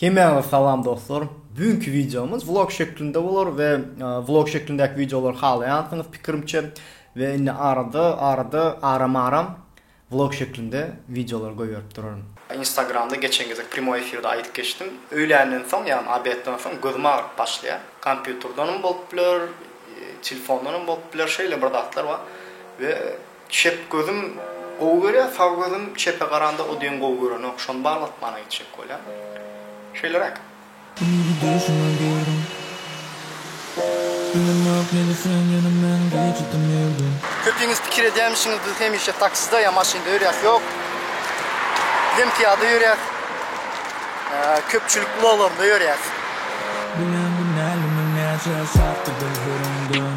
Hemmäňize salam dostlar. Bügünki wideomyz vlog şeklinde bolar we vlog şeklindäki wideolary halaýansyňyz pikirimçe we indi arada arada aram aram vlog şeklinde wideolary goýberip duraryn. Instagramda geçen gezek primoý efirde aýdyp geçdim. Öýländen soň ýagny obedden soň gözüm agyryp başlaýar. Kompýuterdenem bolup biler, telefondanam bolup biler şeýle bir zatlar bar we Çep gözüm gowy görýär, sag gözüm çepe garanda o deň gowy görenok, şony baglatmana gitjek bolýan. Şeýleräk. Indi duşuma girdim. Ynanmak nede sen ýene men geçdim ýerden. Köpiňiz pikir edýämişiňiz biz hemişe takside ýa maşynda ýörýäs ýok. Bizem pyýada ýörýäs. Köpçülik ulaglarynda ýörýäs. Bilen günäli müň näçe şatdyr gözleriňden.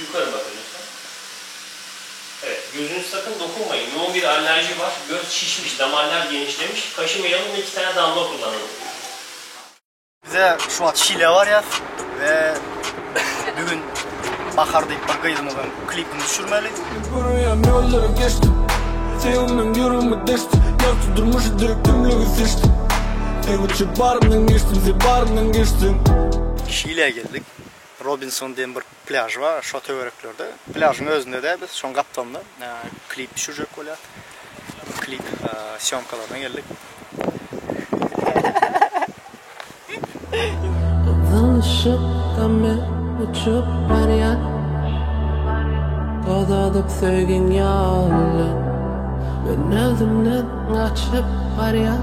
Ýukary basyň lütfen. Evet, gözünizi sakyn dokunmaýyň. Ýoga bir allerji bar, göz şişmiş, damarlar genişlemiş, kaşy miýaly we iki sany damla okurlanylyp. Bize şu wagt Şile barýas we bugün Bahar diýip bir gyzymyzyň klipini düşürmeli. Görmeýän ýollary geçdim. Söýgümden ýüregimi deşdim. Ýagty durmuşy döwüp tümlügi seçdim. Sen üçin baryndan geçdim, sen baryndan geçdiň. Şileýe geldik. Robinson diýen bir plýaž bar şo töwereklerde. Plýažyň özünde-de biz şoň gapdalynda klip düşürjek bolýas. Klip sýomkalaryna geldik. Zyňyşyp-da men uçup barýan Tozadyp söýgiň ýaly Men özümden gaçyp barýan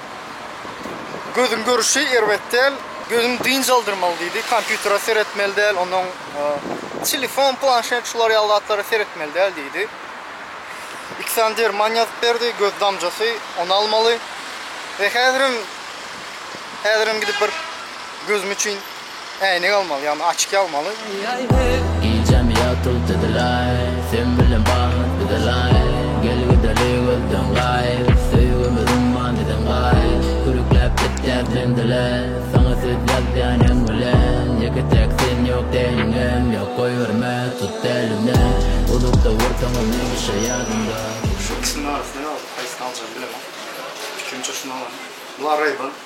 Gözüň görüşi erbet däl. Gözüňi dynç aldyrmaly diýdi. Kompýutere seretmeli däl, ondan telefon, planşet şular ýaly zatlara seretmeli däl diýdi. Iki sany derman ýazyp berdi, göz damjasy, ony almaly. Häzirem häzirem gidip bir gözüm üçin Äýnek almaly, ýagny açki almaly. Gijem ýatyp düzüläý, sen bilen bahat düzüläý, Gel gideli gözden gaýyp, söýgümiz umman eden gaýyp, Kürükläp gitýär sen dile, saňa söz ýazýan hem bilen, Ýeke täk sen ýok däliňem, ýok goýberme, tut dälimden, Uzakda bolsaňam hemişe ýadymda. Şu ikisiniň arasynda ýaly haýsyny aljagymy bilemok. Pikrimçe şuny alaryn. Bu Ray-Ban.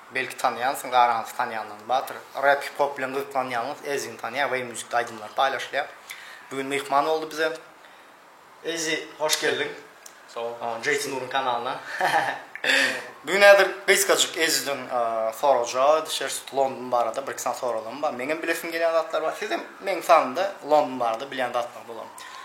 Belki tanýansyň garaňysy tanýanlaň Batyr rap hip hop bilen gyzyklanýaňyz Ezin tanýa weý muzikda aýdymlar paýlaşylýa bu gün myhman boldy bize Ezi hoş geldiň Sagbol Jeýti Nuryň kanalyna Bu gün häzir gysgajyk Eziden sorajak düşeris London barada birki sany soralarym bar meňem bilesim gelýän zatlar bar sizem meň sanymda London barada bilýän zatlaryňyz bolar.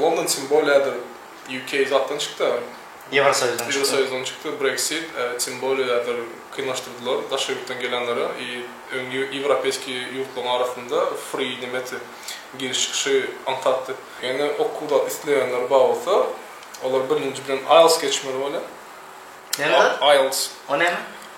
London tim bolýadyr UK zatdan çykda. Ýewrosoýuzdan çykda. Ýewrosoýuzdan çykda Brexit tim bolýadyr kynlaşdyrdylar daşary ýurtdan gelenlere i öň ýewropeýskiý ýurtlaryň arasynda free nemeti giriş çykyşy aňsatdy. Ýöne okuwda isleýänler bar bolsa olar birinji bilen IELTS geçmeli bolýar. Näme zat? IELTS. O näme?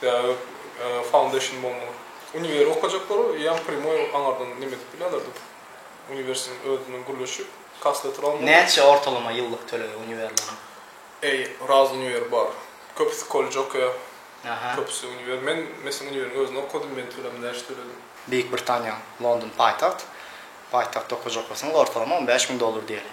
Sebäbi foundation bolmaly. Univeri okajaklar ýa primoý aňardan neme edip bilýärler dip. Uniwersiniň özünden gürleşip kasletr almaly. Näçe ortalama ýyllyk tölegi uniwerleriň? Eý, raz uniwer bar. Köpüsi kollej okaýar. Aha. Köpüsi uniwer. Men meslem uniweriň özünde okadym, men töledim, näçe töledim. Beýik Britaniýa, London paýtagt. Paýtagtda okajak bolsaňyz ortalama on bäş müň dollar diýeli.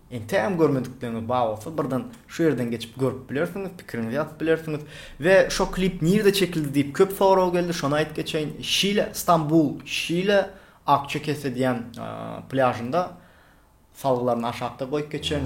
Entegem görmedikleriňiz bar bolsa birden şu ýerden geçip görüp bilersiňiz, pikiriňizi ýazyp bilersiňiz. We şo klip nirde çekildi diýip köp sorag geldi, şony aýyp geçeýin. Şile, Stambul, Şile, Akçakese diýen plýažynda salgylaryny aşakda goýup geçeýin.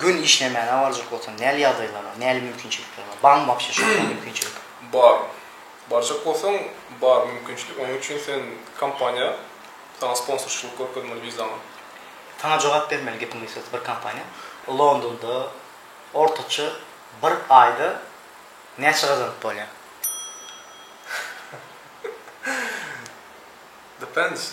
Gün işlemäge barjak bolsaň näli ýagdaýlar bar, näli mümkinçilikler bar? Barmy wagşy şonda mümkinçilik? Bar. Barjak bolsaň bar mümkinçilik. Onuň üçin sen kompaniýa saňa sponsorçylyk görkezmeli wizaňa. Saňa jogap bermeli gepiň üstesi bir kompaniýa. Londonda ortaça bir aýda näçe gazanyp bolýar? Depends.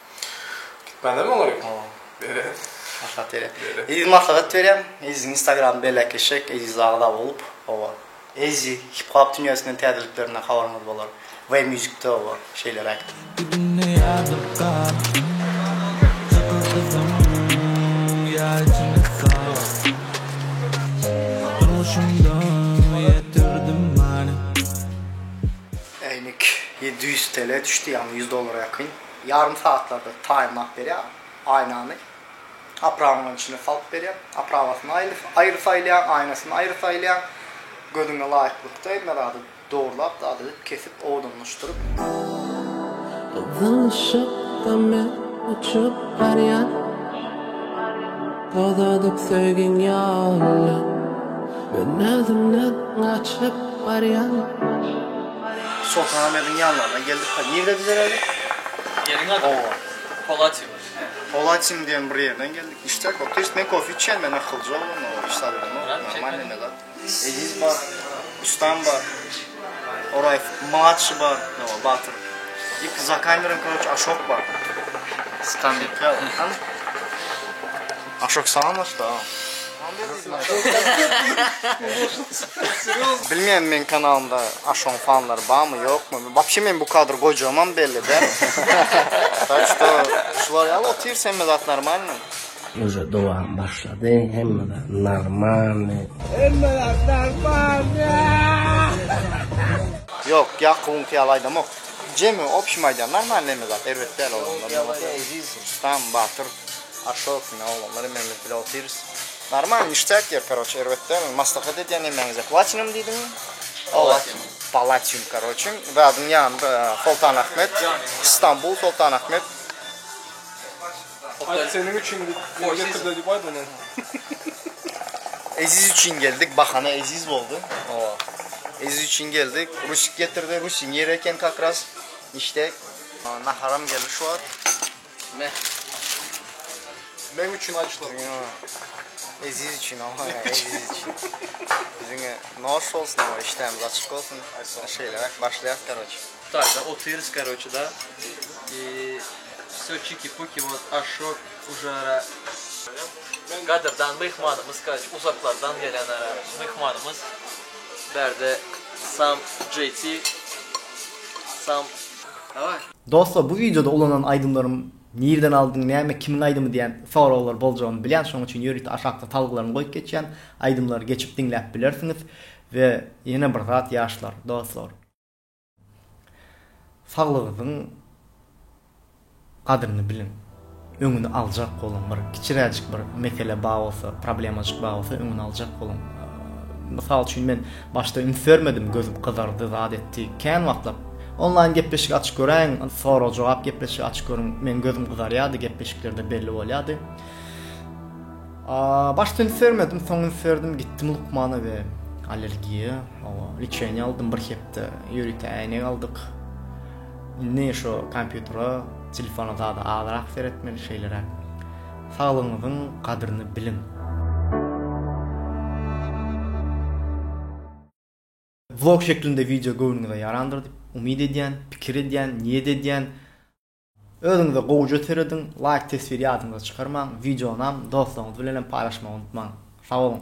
Bende mi olar? Bere. Maslahat bere. Eziz maslahat berýän. Eziz Instagram belek eşek, Eziz agza bolup. Owa. Ezi hip hop dünýäsinden täzeliklerine habaryňyz bolar. We musicde owa şeýleräkdi. Gidini ýazyp gap. Çykyr gyzym ýa içini sap. Durmuşymda ýetirdim many. Äýnek ýedi ýüz TL düşdi, ýagny ýüz dollara ýakyn. ýarym sagatlarda taýynlap berýär aýnany. Aprawanyň içine salyp berýär. Aprawasyny aýry saýlaýaň, aýnasyny aýry saýlaýaň. Gözüňe laýyklykda hemme zady dogrulap, zady edip, kesip, owadanlaşdyryp. Yzylşykda men uçup barýan. Tozadyp söýgiň ýoluna. Men özümden gaçyp barýan. Soltanahmediň ýanlaryna geldik we nirede dizeläýdik? Ýeriň ady? Oba. Polatin. Polatin diýen bir ýerden geldik. Niştek bopdy. Eşit, men kofe içýän, men akylja oglan, o iş salydymok, normalny me zat. Eziz bar, Rustam bar, Oraýew mladşy bar, no, Batyr. I za kamerany, koroçe, Aşok bar. Stambil. Ýa, hany? Aşak salam başda. Bilmeýän meň kanalymda Aşoň fanlary barmy ýokmy. Wapşe men bu kadr goýjagymam belli däl. Tak şto şular ýaly otyrs hemme zat normalny. Uje dowam başlady hemme zat normalny. Hemme zat normalny. Ýok Ýakubyňky ýaly aýdamok. Jemi opşim aýdýan normalny hemme zat erbet däl olar. Rustam batyr Aşok ine oglanlar hememiz bile otyrys. Normal niştäk ýer karoçe erbet däl maslahat edýän emmäňize platinum diýdiňmi? Palatinum. Palatinum karoçe zadyň ýan Soltan Ahmet Stambul Soltan Ahmet. Aý seniň üçin getirdiler diýip aýt ony. Eziz üçin geldik bahana eziz boldy. Hawa. Eziz üçin geldik rusik getirdi rusiň ýeri eken kakras niştäk. Naharam geldi şu wagt. Me. Meň üçin açlyk. Siziň Eziz üçin ama Eziz üçin. Siziňe noş bolsun ama işdämiz açyk bolsun. Şeýleräk başlaýas karoçi. Taýda otyrys karoçi da. I Wsё çiki puki вот aşo ujara. Gadyrdan myhmanymyz karoçi uzaklardan gelen ara myhmanymyz. Bärde sam JT sam. Daway. Dostlar bu wideoda ulanan aýdymlarym nirden aldyň näme kimiň aýdymy diýen soraglar boljagyny bilýän şoň üçin ýörite aşakda salgylaryny goýup geçýän aýdymlary geçip diňläp bilersiňiz we ýene bir zat ýaşlar dostlar saglygyzyň gadryny biliň. öňüni aljak boluň bir kiçiräjik bir mesele bar bolsa problemajyk bar bolsa öňüni aljak boluň mysal üçin men başda üns bermedim gözüm gyzardy zat etdi kän wagtlap onlaýn gepleşik açyp göräýiň sorag jogap gepleşigi açyp görüň men gözüm gyzarýardy gepleşiklerde belli bolýardy başda üns bermedim soň üns berdim gitdim lukmana we allergiýa lečeniýa aldym bir hepde ýörite äýnek aldyk Indi şu kompýutere, telefona zada azrak seretmeli, şeýleräk. Saglygyňyzyň gadryny biliň! Vlog şeklinde wideo göwnüňize ýarandyr diýip umyt edýän, pikir edýän, niýet edýän. Özüňize gowuja serediň, laýk tesbiri ýadyňyzdan çykarmaň, wideonam dostlaryňyz bilenem paýlaşmagy unutmaň. Sag boluň!